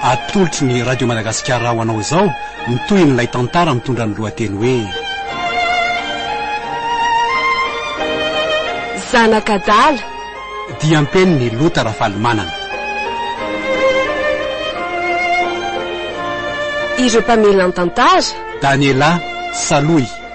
Atolotry ny Radio Madagasikara ho anao izao ny tohin'ilay tantara mitondra ny lohateny hoe. Zanak'adala. Diam-penin'i Lota Rafalimanana. Ireo mpamelan-tantara. Daniela Saloy.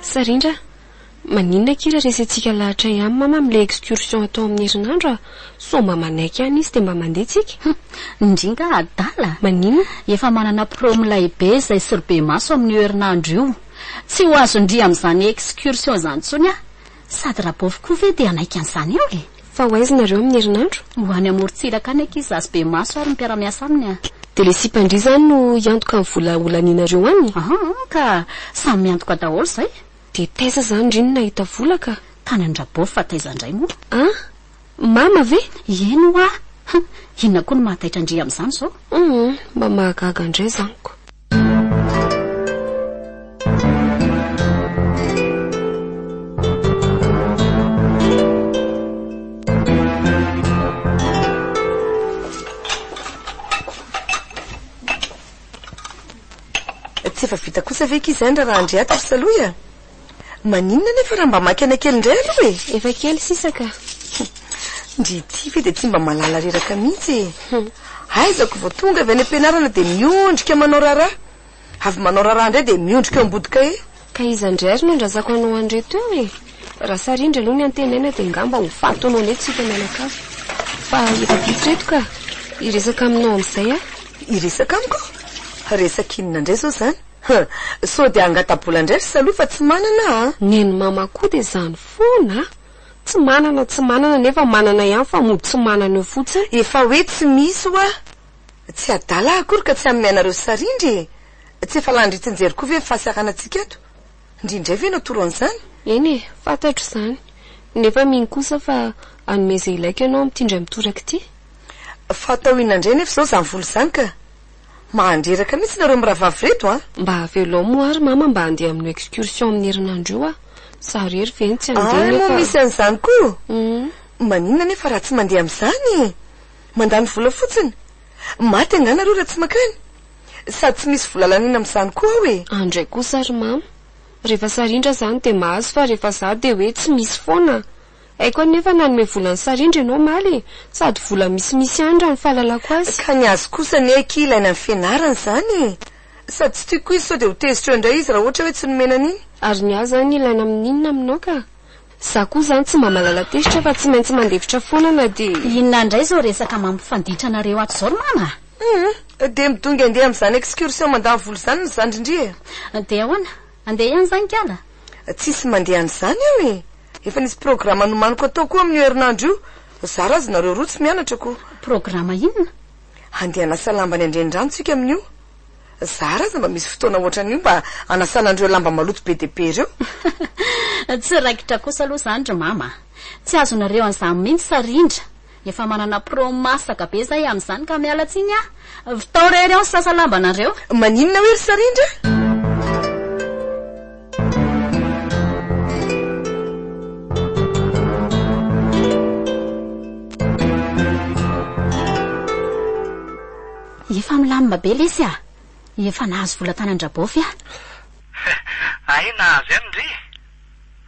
Sarindra, Maninona kira resentsika lahatray aminy mama amle excursion atao amin'ny herinandro a! Sao mba manaiky any izy dia mba mandeha tsika? Humm! Ndry ngah adala? Maninona? Efa manana promo lahibe izay soribe maso amin'io herinandro io. Tsy ho azon-dry amin'izany excursion izany intsony aho. Sady rabaovy koa ve dia hanaiky an'izany eo e! Fa ho aiza nareo amin'ny herinandro? Ho any amorontsiraka any ankizy zaza be maso ary ny mpiara-miasa aminy a! Dia le sipan-dry izany no hiantoka ny vola holanianareo any? Aha, ka samy miantoka daholo izay! Dia taiza izany ry no nahita vola ka! Tany an-dRabaovy fa taiza indray moa? An! Mama ve? Ieny hoa! Hum! Inona koa no mahataitra an-dry amin'izany izao? Hum! Mba mahagaga indray izany ko! Tsy efa vita kosa ve akia izany raha Andriato ry Salohy a? Maninona nefa raha mba makena kely indray aloha e? Efa kely sisa ka. Ndry ity ve dia tsy mba mahalala reraka mihitsy e? Aizako vao tonga avy any am-pianarana dia miondrika manao raharaha. Avy manao raharaha indray dia miondrika eo ambody kahie. Ka iza indray ary no andrazako anao an'ireto eo e? Raha sarindry aloha ny antenaina dia ngamba ho faty anao indray tsika mianakavy. Fa efa vitsy ireto ka. Hiresaka aminao amin'izay aho. Hiresaka amiko? Resaka inona indray izao izany? Huh! Sao dia hangata-bola indray ry Saloha fa tsy manana a! Nen'i Mama koa dia izany foana a! Tsy manana, tsy manana nefa manana ihany fa mody tsy manana eo fotsiny. Efa hoe tsy misy hoa! Tsy adala akory ka tsy hanome anareo sary indry e! Tsy efa lany ritin-jery koa ve ny fahasaranantsika ato? Ndry indray ve no toro an'izany? Eny e, fantatro izany. Nefa mino kosa fa hanome izay ilaiko ianao amin'ity indray mitoraka ity. Fa atao inona indray anefa izao izany vola izany ka? Mahandreraka mihitsy nareo mirahavavy reto a! Mba velom ary mama mba andeha amin'io excursion amin'ny herinandro io aho, zaho irery ve no tsy andeha nefa. Ay moa misy an'izany koa! Maninona nefa raha tsy mandeha amin'izany? Mandany vola fotsiny! Maty angaha nareo raha tsy makany? Sady tsy misy vola laniana amin'izany koa ao e! Any ndray kosa ry mama! Rehefa sarindra izany dia mahazo fa rehefa za dia hoe tsy misy foana! Haiko anefa nanome vola an'i Sarindra ianao omaly e! Sady vola misimisy ihany raha ny fahalalako azy. Ka ny azy kosa anie akia ilaina ny fianarana izany e! Sady tsy tiako izy sao dia ho tezitra eo indray izy raha ohatra hoe tsy nomena an'iny. Ary ny ahy izany ilaina amin'inona aminao ka? Izaho koa izany tsy mba mahalala tezitra fa tsy maintsy mandefitra foana na dia. Inona indray izao resaka mampifanditra anareo ato izao ry mama a! Hum! Dia midongy handeha amin'izany excursion mandany vola izany ny zandry ndry e! Dia ahoana? Andeha ihany zany kala? Tsisy mandeha an'izany eo e! Efa nisy programa nomaniko atao koa amin'io herinandro io, zara azy nareo roa tsy mianatra ko! Programa inona? Handeha hanasa lamba any an-drenirano tsika amin'io! Zara aza mba misy fotoana ohatran'io mba hanasana an'ireo lamba maloto be dia be ireo! Tsy raikitra kosa aloha izany ry mama a! Tsy azonareo an'izany mihitsy sa rindra Efa manana pro masaka be zay amin'izany ka miala tsiny ah! Vitao rery ao ny sasa lamba nareo. Maninona hoe ry sarindra? Efa milamina be lesy ah! Efa nahazo vola tany an-dRabaofy ah! Hay nahazo ihany ndry!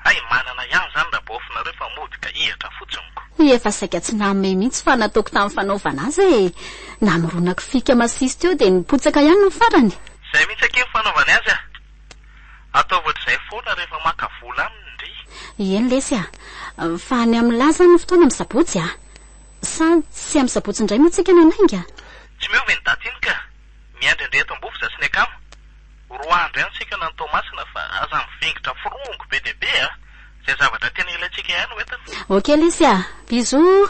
Hay manana ihany zany rabaofinareo fa mody ka hihatra fotsiny ko. Hoy efa saika tsy namehy mihitsy fa nataoko tamin'ny fanaovana azy e! Namoronako fika masiso teo dia nipotsaka ihany ny farany. Izay mihitsy akia ny fanaovany azy a! Ataovy ohatr'izay foana rehefa maka vola aminy ndry. Eny lesy a! Fa any amin'ny lahy izany ny fotoana amin'ny sabotsy a! Sa tsy amin'ny sabotsy indray no tsika nanainga? Tsy miova iny daty iny ka! Miandry an'ireo eto Ambovisa sy ny akama. Roa andro ihany isika any Toamasina fa aza mivingitra forongo be dia be a! Izay zavatra tena ilaintsika ihany no entiny. Ok Lisy a! Bisous!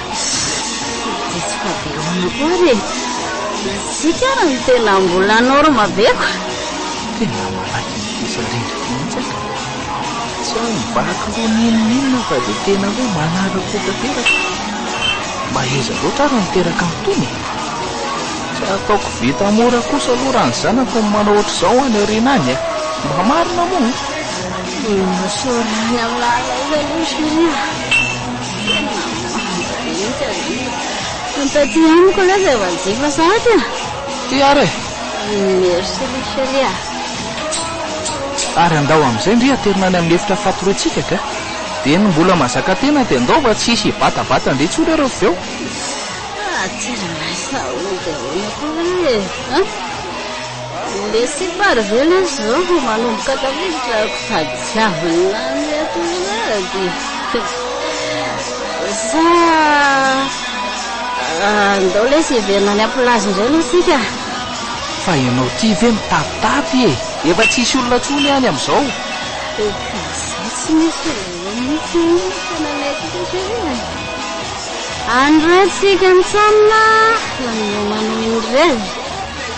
Mitsitsika be ihany koa ary e! Isika ary no tena mbola norma be ko! Tena malaky mitesa rindrina mihitsy aho. Tsy aho mivaky loha n'inon'inona fa dia tena hoe manara-po tanteraka. Maheza loatra ary ny miteraka an'itony e! Tsy ataoko vita mora kosa aloha raha ny zanako no manao ohatr'izao any aoriana any e! Mba marina moa? Misaoran'ny Alllah ilay izy aloha chérie a! Taty amiko aloha izay valijihy fa sarotra e. Ty ary e! Merci ry chérie a. Ary andao amin'izay ndry haterina any amin'ny efitra fatoretsika ka. Dia ny mbola mazaka tena dia andao fa tsy hisy hibatabata ndry intsony ary avy eo. Haterina sa ahoana dia ahoana koa ve e? Merci par vela zao manomboka tafiditra ako sady tsy avina ny atorony sa andao lesy hiverina any amplage indray aloha tsika Fa ianao ty ve mitatitapy e! Efa tsy hisy olona tsony any amizao. Efa izay tsy misy olona eo mihitsy any ny tananay ty satria any re tsika mitsamina manome manohy ny revy.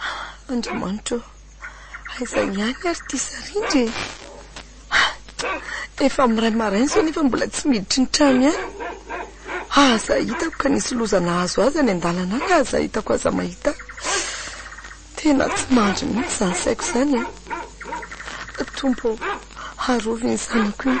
Ah Andriamanitra ô! Aiza ihany ary ity sarindry e! Ah! Efa miray maraina izao nefa mbola tsy miditry ny trano ihany. Aza hitako ka nisy loza nahazo azy any an-dalana any aza hitako aza mahita ahy. Tena tsy mandry mihitsy izany saiko izany e! Tompo ô! Arovy iny zanako iny.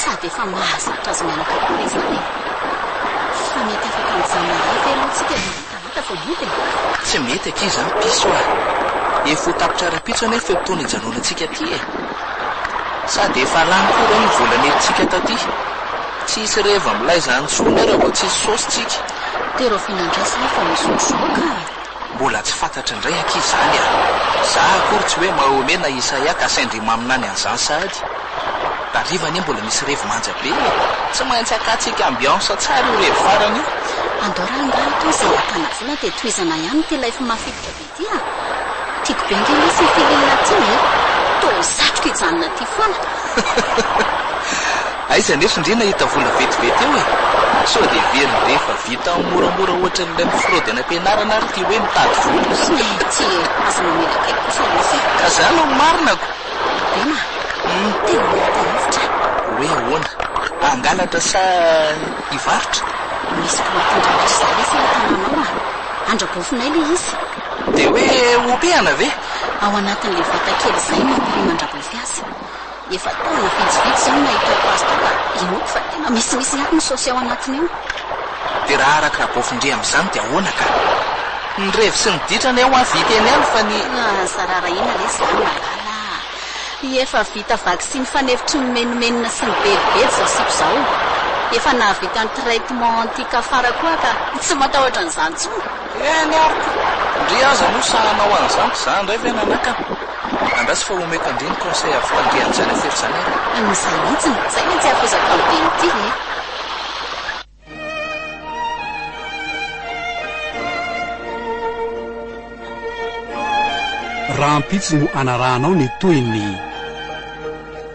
Sady efa mahazatra azy menaka koa izany e! Fa mety afaka mijanona iray ve aloha tsika ry Marie talata vao mody e? Tsy mety akia izany piso ah! Efa ho tapitra rahampitso anefa io fotoana ijanonantsika ity e! Sady efa lany koa ireo ny vola nentintsika taty! Tsy hisy reva milay izany intsony ary vao tsy hisy saosy tsika! Dia rahoviana indray izay vao misotro zoa ka? Mbola tsy fantatry indray akia izany a! Za akory tsy hoe Mahomet na Isaia ka sendra i maminany an'izany sahady. Tariva anie mbola misy revy manja be e! Tsy maintsy akatsika ambiance tsara io revy farany io. Andao raha angaha atao izay ahitana vola dia tohizana ihany ity life mafilotra be ity a! Tiako be ange lesy io film ity e! Toa satriko hijanona aty foana. Aiza nefa indry nahita vola vetivety eo e! Sao dia heveriny ve fa vita amin'ny moramora ohatran'ilay mi-fraude any am-pianarana ary ity hoe mitady vola? Mihitsy e! Aza mamela kely kosa ianao e! Ka za aloha marinako! Bema, tena mahita hevitra e! Hoe ahoana? Hangalatra sa hivarotra? Misy mpilohan-tendrombohitra izay anefa eo an-tanànao a! Andrabofinay ilay izy! Dia hoe ompiana ve? Ao anatin'ilay vata kely izay no ampirim'Andrabofy azy. Efa taona vitsivitsy zao no nahitako azy tao ka inoako fa tena misimisy ihany ny saosy ao anatiny ao. De raha araka Rabofindria amzany de ahoana ka? Ny revy sy ny ditra anie hoa vita eny ihany fa ny. Aza rarahina re zany malala a! Efa vita vaksiny fanefitry ny menomenona sy ny bedibedy zao sipa zao. Efa nahavita ny traitement anti cafard koa ka tsy matahotra an'izany tsony. Eny ary ka! Ndry aza moa sahy hanao an'izany, za ndray ve nanakana? Andraso fa omeko andriny conseil avy tandremo tsy hanafery zany ary. Anisany mihitsiny, zay mantsy hafozako amin'ny be ny tia e. Rahampitso no anarahanao ny tohiny.